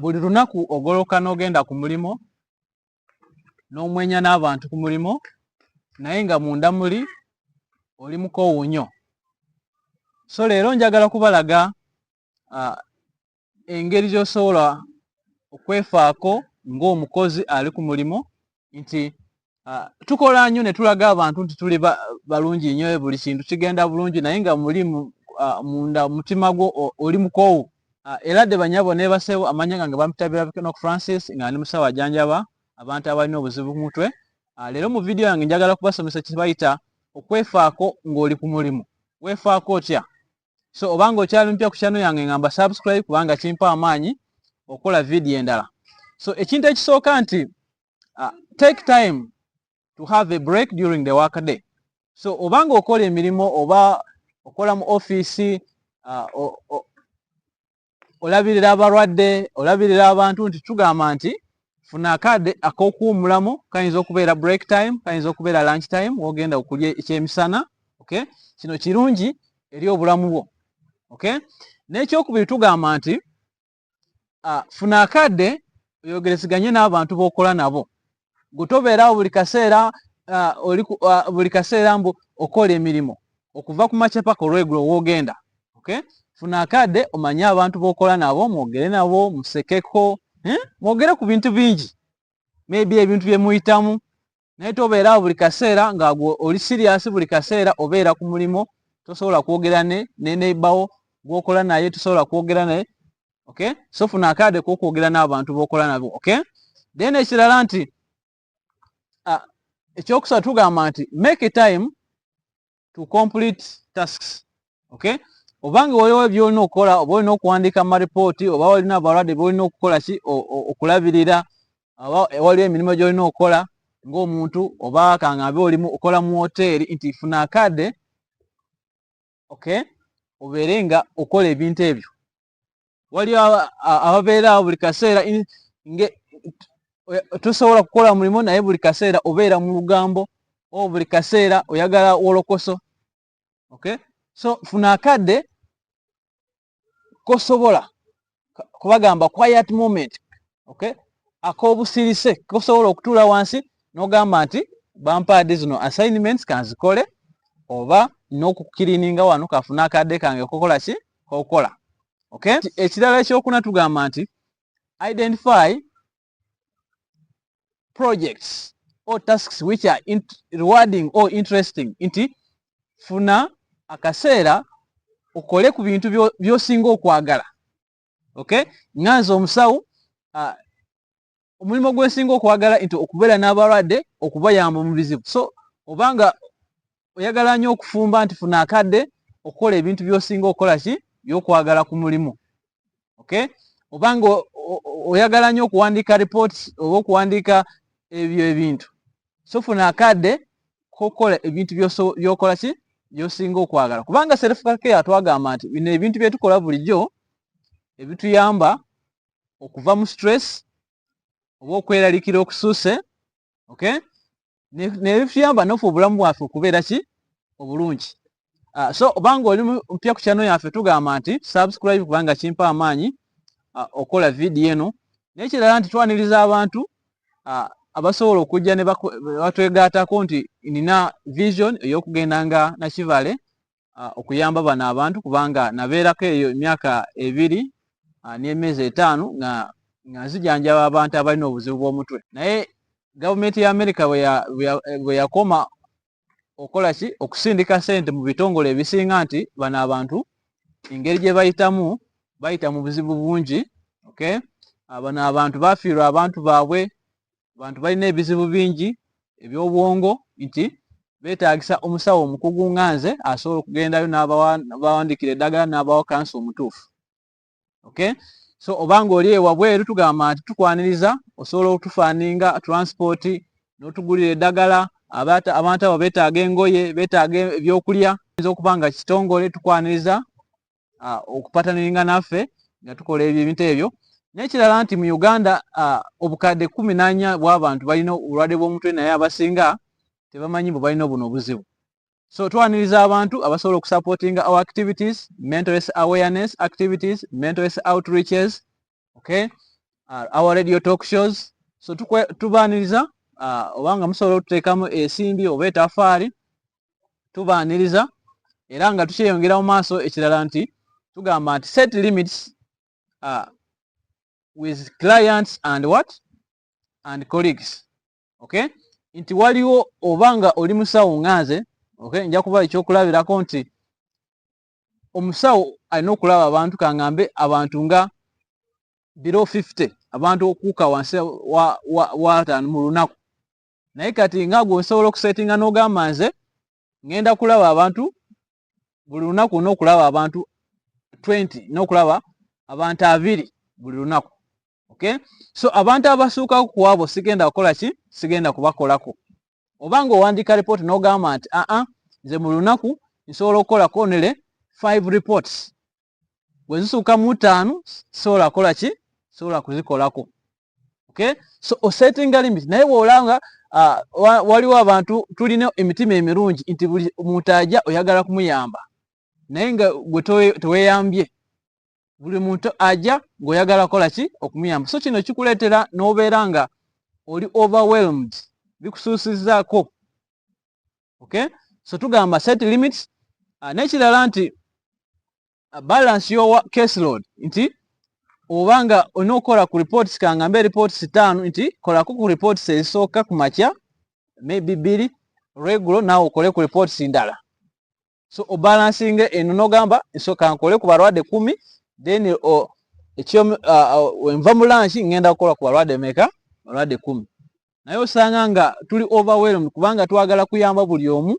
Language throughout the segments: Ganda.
Buli lunaku ogoloka n'ogenda ku mulimu n'omwenya n'abantu ku mulimu naye nga munda muli oli mukoowu nnyo. So leero njagala kubalaga uh, engeri gy'osobola okwefaako ng'omukozi ali ku mulimu nti uh, tukola nnyo ne tulaga abantu nti tuli balungi ba nnyo e buli kintu kigenda bulungi naye nga muli uh, munda mutima gwo oli mukoowu uh, era de banyabo nebaseewo amanya gange bamutabira bikenok francis nga ndi musawo ajanjaba abantu abalina obuzibu ku mutwe uh, leero mu vidiyo yange njagala kubasomesa kyebayita okwefaako ng'oli ku mulimu wefaako otya so obanga okyali mpya ku channel yange ngamba subscribe kubanga kimpa amaanyi okola video endala so ekintu ekisooka nti uh, take time to have a break during the work day so obanga okola emirimu oba okola mu office uh, olabirira abalwadde olabirira abantu nti tugamba nti funa akade akokuwumulamu kayinza okubeera break time kayinza okubeera lunch time wogenda okulya ekyemisana okay kino kirungi eri obulamu bwo okay nekyokubiri tugamba nti uh, funa akade oyogereziganye n'abantu bokola nabo gutobeerawo buli kaseera buli kaseera mbu okola emirimu okuva ku makya paka olwegulo wogenda okay? funa akadde omanye abantu bokola nabo mwogere nabo musekeko eh? mwogere ku bintu bingi maybe ebintu byemuyitamu naye tobeerawo buli kaseera nga oli siriyasi buli kaseera obeera ku mulimu tosobola kwogera ne nenebawo gwokola naye tosobola kwogera naye okay so funa akade kokwogera n'abantu bokola nabo okay then ekirala nti uh, ekyokusatu tugamba nti make a time to complete tasks okay obanga waliwo byolina okukola oba olina okuwandiika maripooti oba walina abalwadde byolina okukola ki okulabirira oba waliwo emirimu gyolina okukola ng'omuntu oba kangambe olimu okola mu woteeri nti funa akade okay obeere nga okola ebintu ebyo waliyo ababeera awo buli kaseera tosobola kukola mulimu naye buli kaseera obeera mu lugambo o buli kaseera oyagala wolokoso okay so funa akadde kosobola kubagamba quiet moment okay akobusirise kosobola okutula wansi nogamba nti bampaadi zino assignments kanzikole oba nokukirininga wano kafuna akadde kange kokola ki kokola okay ekirala ekyokuna tugamba nti identify projects or tasks which are rewarding or interesting nti funa akaseera okole ku bintu byosinga okwagala okay nga nze omusawo uh, omulimu gwensinga okwagala nti okubeera n'abalwadde okubayamba omubizibu so obanga oyagala nyo okufumba nti funa akadde okukola ebintu byosinga okukola ki byokwagala ku mulimu okay obanga oyagala nyo okuwandiika reports oba okuwandiika ebyo ebintu so funa akadde kokukola ebintu byokola ki byosinga okwagala kubanga serifukake atwagamba nti bino ebintu byetukola bulijjo ebituyamba okuva mu stress oba okweralikira okusuuse okay nebituyamba nofe obulamu bwaffe okubeera ki obulungi ah, so obanga oli mpya ku kyano yaffe tugamba nti subscribe kubanga kimpa amaanyi ah, okola vidiyo eno nekirala nti twaniriza abantu ah, abasobola okujja nebatwegaatako nti nina vision eyokugenda nga nakivale okuyamba bano abantu kubanga nabeerako eyo emyaka ebiri n'emyezi etaano nga nga nzijanjaba abantu abalina obuzibu bw'omutwe naye gavumenti ya amerika bwe yakoma okola ki okusindika sente mu bitongole ebisinga nti bano abantu engeri gye bayitamu bayita mu buzibu bungi okay bano abantu bafiirwa abantu baabwe abantu balina ebizibu bingi ebyobwongo nti betagisa omusawo omukugu nga nze asobola okugendayo nabawandikira eddagala nabawa kansa omutuufu okay so obanga oli ewabweru tugamba nti tukwaniriza osobola okutufaninga transport notugulira eddagala abantu abo betaaga engoye betaaga ebyokulya yinza okuba nga kitongole tukwaniriza okupataniringa naffe nga tukola ebyo ebintu ebyo nekirala nti mu uganda obukadde kumi nanya bwabantu balina obulwadde bwomutwe naye abasinga tebamanyi bwe balina buno obuzibu so twaniriza abantu abasobola okusupportinga our activities mental awareness activities mental outreaches okay uh, our radio talk shows so tubaniriza uh, oba nga musobola otuteekamu esimbi oba etafaali tubaniriza era nga tukyeyongera mu maaso ekirala nti tugamba nti set limits uh, with clients and what and colleagues okay nti waliwo oba nga oli musawo nga nze okay nja kuba ekyokulabirako nti omusawo alina okulaba abantu kangambe abantu nga biro 50 abantu okuuka wansi wataano mu lunaku naye kati nga gwe osobola okusetinga n'ogamba nze ngenda kulaba abantu buli lunaku olina okulaba abantu 20 nokulaba abantu abiri buli lunaku okay so abantu abasuuka ku abo sigenda kukola ki sigenda kubakolako oba nga owandiika report n'ogamba nti aa ah, ah, nze mu lunaku nsobola okukolako nele five reports bwe zisuuka mu ttaano sobola kukola ki sobola kuzikolako okay so osettinga limit naye bw'olanga uh, waliwo abantu tulina emitima emirungi nti buli muntu ajja oyagala kumuyamba naye nga gwe teweyambye buli muntu aja ng'oyagala kola ki okumuyamba so kino kikuleetera n'obeera nga oli overwhelmed bikusuusizzaako okay so tugamba set limits uh, n'ekirala nti uh, balance your case load nti oba nga olina okukola ku reports kangambe reports taano nti kolako ku reports ezisooka ku makya maybe bbiri regulo naawe okole ku reports ndala so obalansinga eno nogamba nsoka nkole ku balwadde kumi then ekyo wenva mu lunch ngenda kukola ku balwadde meka balwadde kumi naye osanga nga tuli overwhelmed kubanga twagala kuyamba buli omu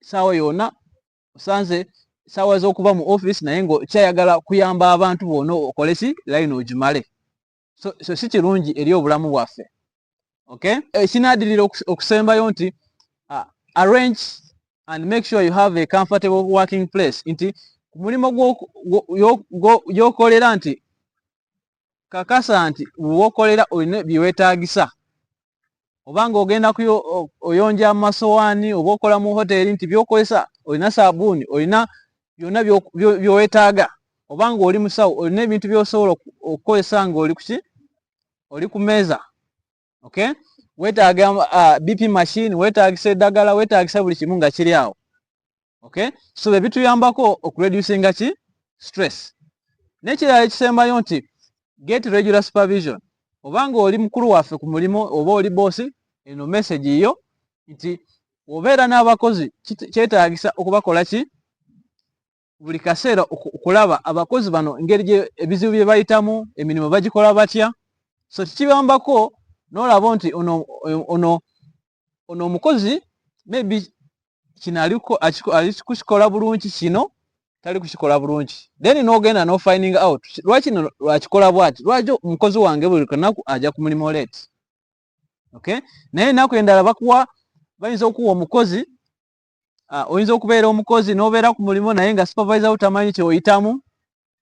saawa yona osanze saawa zokuba mu office naye nga okyayagala kuyamba abantu bona okoleki line ogimale so, so si kirungi eri obulamu bwaffe okay ekinadirira eh, okusembayo nti uh, arrange and make sure you have a comfortable working place nti mulimu gyokolera nti kakasa nti wokolera olina byewetagisa oba nga ogenda oyonja amasowaani oba okola mu hoteeri nti byokozesa olina saabuuni olina byonna byowetaaga oba nga oli musawo olina ebintu byosobola okukozesa nga oli kuki oli ku meeza okay wetaaga uh, bp machine wetaagisa eddagala wetaagisa buli kimu nga kiri awo okay so bye bituyambako okureducinga ki stress nekirala ekisembayo nti get regular supervision oba nga oli mukulu waffe ku mulimu oba oli boosi eno message yo nti obeera n'abakozi kyetaagisa okubakola ki buli kaseera okulaba abakozi bano engeri ebizibu bye bayitamu emirimu bagikola batya so kikibambako n'olaba nti ono ono omukozi maybe kino alikukikola bulungi kino tali kukikola bulungi then nogenda no finding out lwaki no lwakikola bwati lwaki omukozi wange buli kanaku aja ku mulimu late okay naye enaku endala bakuwa bayinza okuwa omukozi Ah, oyinza okubeera omukozi n'obeera ku mulimu naye nga supervisor wo tamanyi kyeoyitamu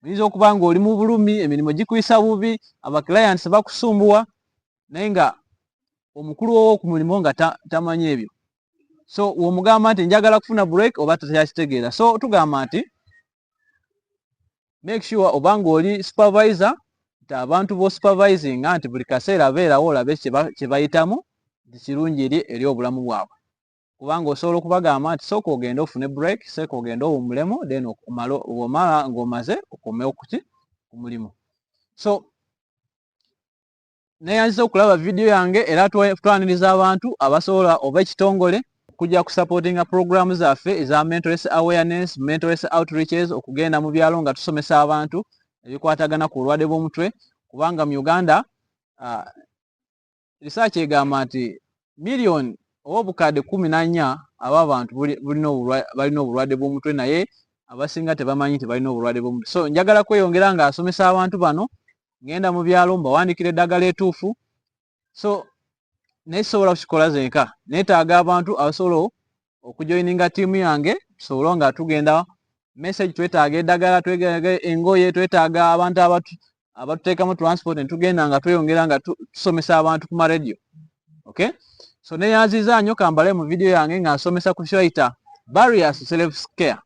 oyinza okuba nga oli mu bulumi emirimu gikuyisa bubi abaclients bakusumbuwa naye nga omukulu wowo ku mulimu nga tamanyi ebyo so womugamba nti njagala kufuna break oba takyakitegeera so tugamba nti make sure oba nga oli supervisor nti abantu bo supervisinga nti buli kaseera beerawo olabe kyebayitamu nti kirungi eri obulamu bwabwe kubanga osobola okubagamba nti sooka ogende ofune break seeka ogende owumulemu then omala ng'omaze okomewo kuki ku mulimu so neyanziza okulaba vidiyo yange era twaniriza abantu abasobola oba ekitongole okujja kusupportinga puroguramu zaffe eza mentoress awareness mentoress outreaches okugenda mu byalo nga tusomesa abantu ebikwatagana ku bulwadde bw'omutwe kubanga mu uganda uh, risaaki egamba nti miliyoni oba obukadde kumi na nnya aba abantu balina obulwadde bw'omutwe naye abasinga tebamanyi nti balina obulwadde bw'omutwe so njagala kweyongera nga asomesa abantu bano ngenda mu byalo mbawandikira eddagala etuufu so naye sisobola kukikola zenka neetaaga abantu abasobola okujoininga tiimu yange tusobole nga tugenda message twetaaga eddagala twetaaga engoye twetaaga abantu abatuteekamu transport netugenda nga tweyongera nga tusomesa abantu ku maradio okay so neyanziza nyo kambale mu vidiyo yange nga nsomesa ku shoita barriers self scare